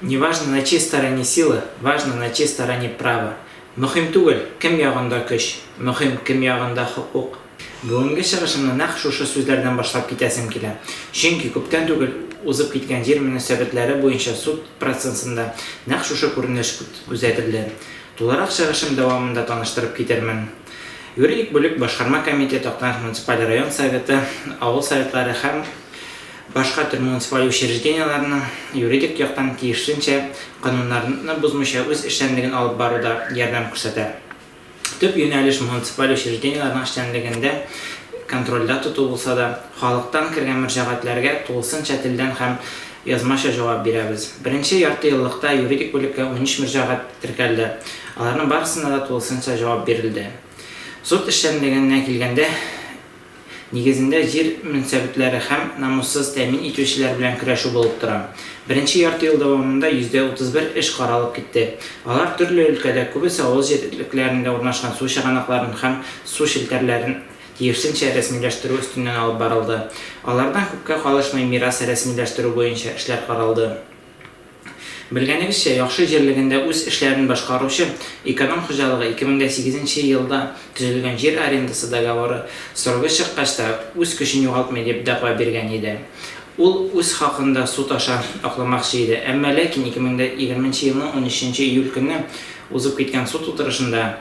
Не важно на чьей стороне сила, важно на чьей стороне право. Мөһим түгел, кем ягында көч, мөһим, кем ягында хокук. Бүгенге чыгышымны нәкъ шушы сүзләрдән башлап китәсем килә. Чөнки күптән түгел узып киткән җир мөнәсәбәтләре буенча суд процессында нәкъ шушы күренеш күзәтелде. Тулырак чыгышым дәвамында таныштырып китермен. Юридик бүлек, Башкарма комитет, Актаныш муниципаль район Советы, авыл Советлары һәм. Башка төр муниципаль учреждениеләренең юридик яктан тиешенчә кануннарны бозмыйча үз эшчәнлеген алып баруда ярдәм күрсәтә. Төп юнәлеш муниципаль учреждениеләрнең эшчәнлегендә контрольдә тоту булса да, халыктан кергән мөрҗәгатьләргә тулысынча телдән һәм язмача җавап бирәбез. Беренче яртыеллыкта юридик бүлеккә унөч мөрҗәгать теркәлде, аларның барысына да тулысынча җавап бирелде. Суд эшчәнлегенә килгәндә, Нигезендә җир мөнсәбетләре һәм намуссыз тәэмин итүчеләр белән көрәшү булып тора. Беренче ярты ел дәвамында 131 эш каралып китте. Алар төрле өлкәдә, күбесе авыл җирлекләрендә урнашкан су чыганакларын һәм су челтәрләрен тиешенчә рәсмиләштерү өстеннән алып барылды. Алардан күпкә калышмый мирас рәсмиләштерү буенча эшләр каралды. Белгәнегезчә, яхшы җирлегендә үз эшләрен башкаручы Эконом хуҗалыгы 2008 нче елда төзелгән җир арендасы договоры срогы чыккач та үз көчен югалтмый дип дәгъва биргән иде. Ул үз хакын да суд аша акламакчы иде, әмма ләкин 2020 нче елның 13 нче июль көнне узып киткән суд утырышында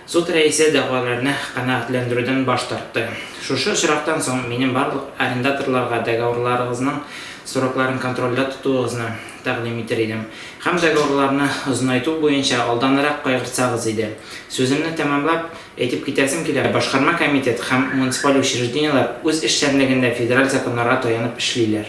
Суд рәисе дәгъваларны канәгатьләндерүдән баш тартты. Шушы очрактан соң минем барлык арендаторларга договорларыгызның срокларын контрольдә тотуыгызны тәкъдим итер идем һәм договорларны озынайту буенча алданрак кайгыртсагыз иде. Сүземне тәмамлап, әйтеп китәсем килә, башкарма комитет һәм муниципаль учреждениеләр үз эшчәнлегендә федераль законнарга таянып эшлиләр.